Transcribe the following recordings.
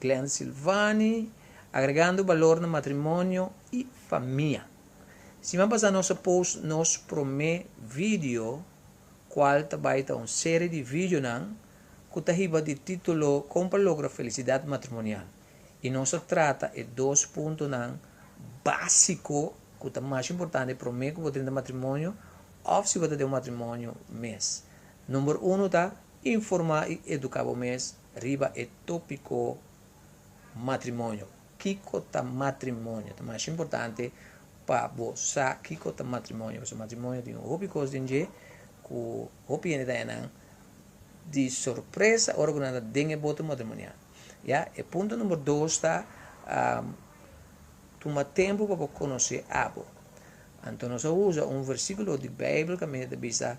Glen Silvani, Agregando balor na matrimonio y famia. Siman pasá nos a post nos promé video cual ta bai ta un serie di videonan cu ta hiba di titulo Con pa logra felicidad matrimonial y nos a trata e dos puntonan básico cu ta mas importante promé cu bo drinta matrimonio of si bo ta den un matrimonio mes. Number uno ta. Informá i eduká bo mes riba e tópiko matrimonio. Kiko ta matrimonio? Ta masha importante pa bo sa kiko ta matrimonio, pasobra matrimonio tin hopi kos den dje ku hopi hende ta haña nan di sorpresa ora ku nan ta den e bote matrimonial. Ya, e punto number dos ta, tuma tempu pa bo konosé abo. Anto nos a usa un versíkulo di Beibel ku a mester ta bisa.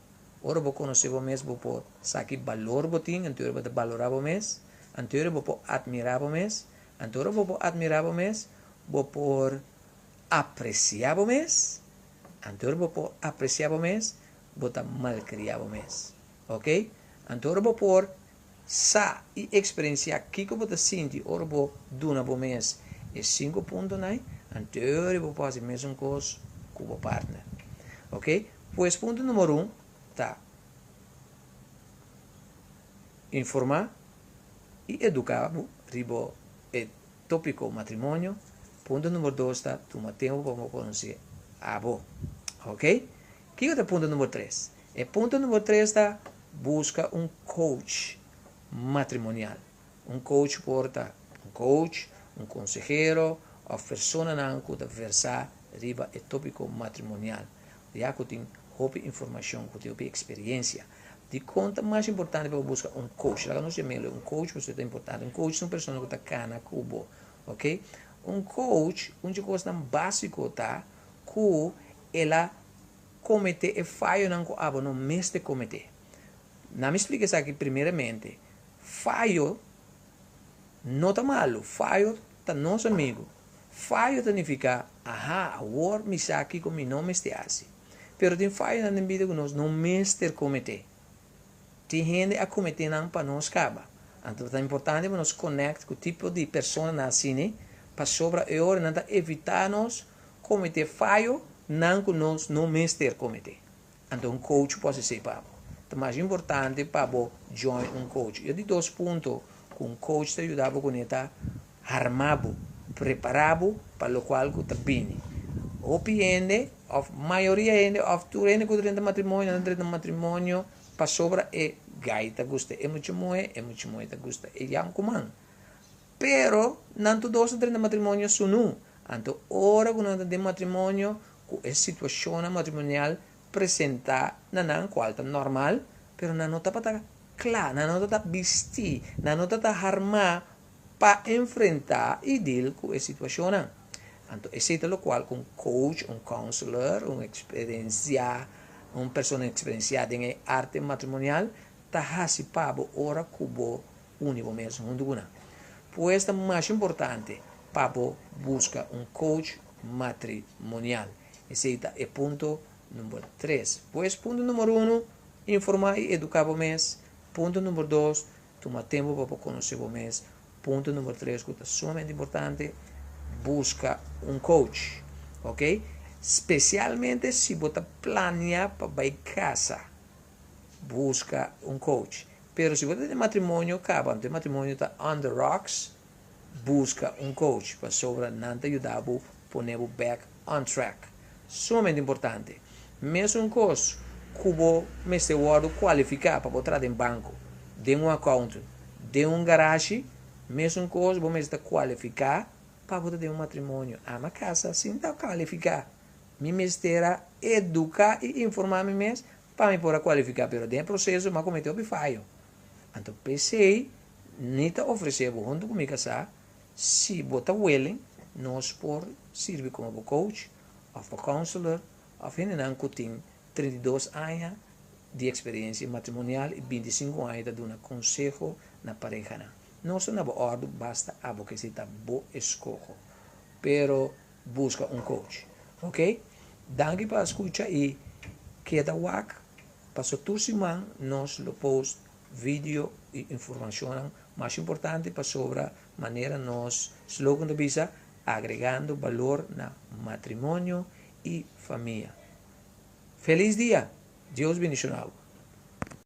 Ora bo konosé bo mes bo por sa ki balor bo tin, anto ora bo ta balorá bo mes, anto ora bo por atmirá bo mes, anto ora bo por atmirá bo mes, bo por apresiá bo mes, anto ora bo por apresiá bo mes, bo ta malkriá bo mes. Oke, anto ora bo por Sa i eksperensiá kiko bo ta sinti ora bo duna bo mes e sinku puntonan, anteori bo por hasi mesun kos ku bo partner. Ok, pues punto numero un ta informá i eduká bo riba e tópiko matrimonio, punto numero dos ta tuma tempu pa bo konosé abo. Ok, Kiko ta e punto number tres? E punto number tres ta, buska un coach matrimonial. Un coach por ta un coach, un consehero of personanan cu ta versa riba e topico matrimonial, ya cu tin hopi informacion, cu tin hopi experiencia. Dicon ta mas importante pa bo buska un coach? Laga nos dje meloe, un coach pa usted ta importante. Un coach ta un persona cu ta cana cu bo, ok? Un coach, un dje cosnan basico ta cu El a kometé e fayonan ku abo no mester kometé. Na mi splika esaki primeramente, fayo no ta malu, fayo ta nos amigu. Fayo ta nifiká, aha, awor mi sa kiko mi no mester hasi. Pero tin fayonan den bida ku nos no mester kometé. Tin hende a kometé nan pa nos kaba. Anto ta importante pa nos konèkt ku tipo di personanan asini, pasobra e ora nan ta evitá nos Kometé fayo nan ku nos no mester kometé. Anto un coach por sesei pa bo. Ta mas importante pa bo join un coach. Yo di dos punto ku un coach ta yuda bo kuné ta arma bo, prepara bo pa lokual ku ta bini. Hopi hende of mayoria hende of tur hende ku ta drenta matrimonio nan ta drenta matrimonio pasobra e guy ta gusta e mucha muhé, e mucha muhé ta gusta e yankuman. Pero, nan tur dos ta drenta matrimonio su nu. Anto ora ku nan ta den matrimonio ku e situashonnan matrimonial presentá na nan kual ta normal, pero nan no tabata kla, nan no tabata bistí, nan no tabata harmá pa enfrentá i dil ku e situashonnan. Anto esei ta lokual ku un coach, un counselor, un eksperensiá, un persona eksperensiá den e arte matrimonial ta hasi pa bo ora ku bo Uni bo mes huntu ku nan. Pues ta mas importante pa bo buska un coach matrimonial. Esei ta e punto number tres. Pues punto number uno, informá i eduká bo mes. Punto number dos, tuma tempu pa bo konosé bo mes. Punto number tres ku ta sumamente importante, buska un coach. Ok? Spesialmente si bo ta planea pa bai kasa, buska un coach. Pero si bo ta den matrimonio cabanto e matrimonio ta on the rocks busca un coach pasobra nan ta yuda bo pone bo back on track sumamente importante mesun cos cu bo mester wordo cualifica pa bo traha den banco den un accountant den un garashi mesun cos bo mester ta cualifica pa bo ta den un matrimonio ama casa sin ta cualifica mi mester a educa y informa mi mes Pa mi por a kualifiká pero den e proseso mi a kometé hopi fayo. Anto p'esei mi ta ofresé bo huntu ku mi kasá si bo ta welen nos por sirbi komo bo coach òf bo counselor òf hendenan ku tin treinta i dos aña di eksperensia matrimonial i binti i sinku aña ta duna konseho na parehanan. Nos ta na bo òrdu basta abo k'esei ta bo eskoho pero Busca un coach. Ok. Danki pa scucha y keda wak paso tur siman nos lo post video y informacionnan mas importante pasobra manera nos slogan ta bisa agregando balor na matrimonio y famia. Feliz dia! Dios bendiciona bo.